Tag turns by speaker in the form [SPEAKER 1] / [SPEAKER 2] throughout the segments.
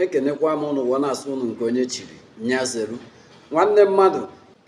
[SPEAKER 1] ekenekwa m ụnụ wee na-asị ụnụ nke onye chiri nya zeru nwanne mmadụ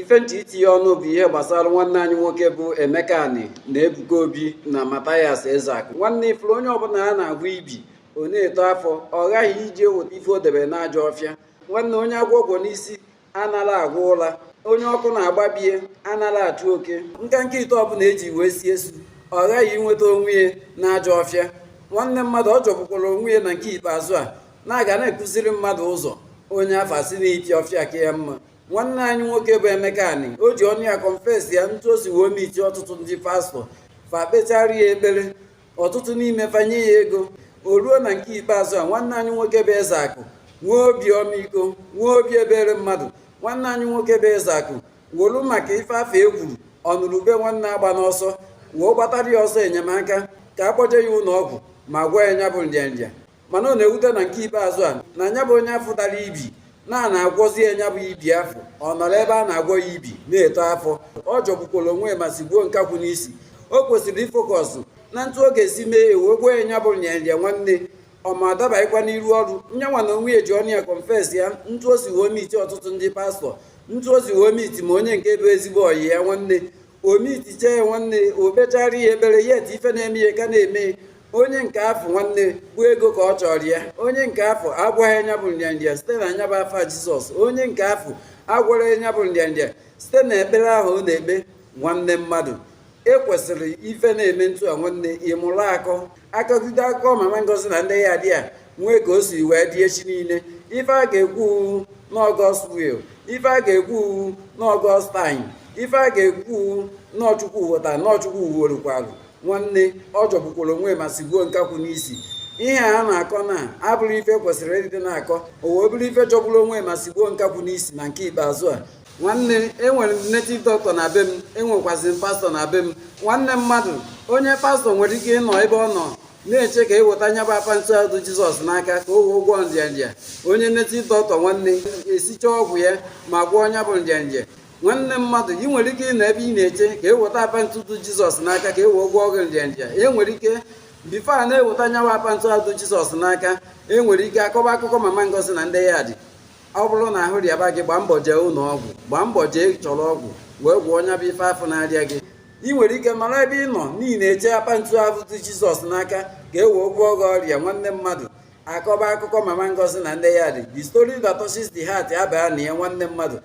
[SPEAKER 1] ife m chọ itinye ọnụ bụ ihe gbasara nwanne anyị nwoke bụ Emeka Ani na Ebuka Obi na Mathias Ezeaku nwanne ị fụrụ onye ọbụla a na-agwọ ibi ọ na-eto afọ ọ ghaghị ije weta ife o debere n'ajọ ọfịa nwanne onye agwọ gwọ n'isi anara agwa ụla onye ọkụ na-agba be ya anara achụ oke nkanka ite ọbụla eji wee sie esu ọ ghaghị inweta onwe ya na ajọ ọfịa nwanne mmadụ ọ jọgbukwara onwe ya na nke ikpeazụ a na-aga na-akụziri mmadụ ụzọ onye afọ asị na iti ọfịa ka ya mma nwanne anyị nwoke bụ Emeka Ani o ji ọnụ ya kọnfesi ya ntu o si wee miti ọtụtụ ndị pastọ fa kpechara ya ekpere ọtụtụ n'ime fa enye ya ego o ruo na nke ikpeazụ a nwanne anyị nwoke bụ Ezeaku nwee obi ọmịiko nwee obi ebere mmadụ nwanne anyị nwoke bụ Ezeaku wolu maka ife afọ e kwuru ọ nụrụ ube nwanne agbana ọsọ wee gbatara ya ọsọ enyemaka ka a kpọje ya ụlọ ọgwụ ma gwọọ ya nya bụ nrịanrịa mana ọ na-ewute na nke ikpeazụ a na nya bụ onye afọ dara ibi na a na-agwọzi ya nya bụ ibi afọ ọ nọrọ ebe a na-agwọ ya ibi na-eto afọ ọ jọgbukwara onwe ya ma sigbuo nkakwụ n'isi o kwesịrị ifokọsụ na ntụ ọ ga-esi mee ya wee gwọọ ya nya bụ nrịanrịa nwanne ọ ma adabaghịkwa n'iru ọrụ nyanwa na onwe ya ji ọnụ ya kọnfes ya ntụ o si wee miti ọtụtụ ndị pastọ ntụ o si wee miti ma onye nke bụ ezigbo ọyị ya nwanne o mitichaa ya nwanne o kpechara ya ekpere yet ife na-eme ya ka na-eme onye nke afọ nwanne bụ ego ka ọ chọrọ ya onye nke afọ agwọghị ya nya bụ nrịanrịa site na nya bụ afa jizọs onye nke afọ agwọrọ ya nya bụ nrịanrịa site na ekpere ahụ ọ na-ekpe nwanne mmadụ i kwesịrị ife na-eme ntụ a nwanne ịmụrụ akọ akọgide akụkọ mama ngozi na ndị yard e nwee ka o si wee dị echi niile ife a ga-ekwu na ọ God's will ife a ga-ekwu na ọ God's time ife a ga-ekwu na ọ Chukwu weta na ọ Chukwu worukwalụ nwanne ọ jọgbukwara onwe ma sigbuo nkakwụ n'isi ihe a na-akọ na abụrọ ife kwesịrị ịdị na-akọ o wee bụrụ ife jọgburu onwe ma sigbuo nkakwụ n'isi na nke ikpeazụ a nwanne enwere m native doctor na be m enwekwazị m pastọ na be m nwanne mmadụ onye pastọ nwere ike ịnọ ebe ọ nọ na-eche ka e weta nya bụ apa ntu a dụ jizọs n'aka ka o wee gwọọ nrịanrịa onye native doctor nwanne esicha ọgwụ ya ma gwọọ nya bụ nrịanrịa nwanne mmadụ ị nwere ike ịnọ ebe ị na-eche ka e weta apa ntu a dụ jizọs n'aka ka e wee gwọọ gị nrịanrịa e nwere ike bifo a na-eweta nyanwa apa ntu a dụ jizọs n'aka e nwere ike akọba akụkọ mama ngozi na ndị yard ọ bụrụ na ahụ rịaba gị gbaa mbọ jee ụlọ ọgwụ gbaa mbọ jee chọrọ ọgwụ wee gwọọ nya bụ ife afọ na-arịa gị ị nwere ike nọrọ ebe ị nọ n'ihi na-eche apa ntu ahụ dị jizọs n'aka ka e wee gwọọ gị ọrịa nwanne mmadụ akọba akụkọ mama ngozi na ndị yard the story that touches the heart abaa na ya nwanne mmadụ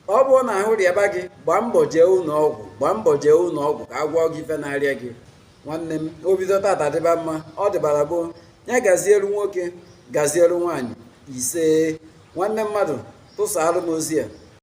[SPEAKER 1] ọ bụrụ na ahụ rịaba gị gbaa mbọ jee ụlọ ọgwụ gbaa mbọ jee ụlọ ọgwụ ka a gwọọ gị ife na-arịa gị nwanne m o bido tata dịba mma ọ dịbara gboo ya gazielu nwoke gazielu nwaanyị ise nwanne mmadụ tụsaalụ m ozi a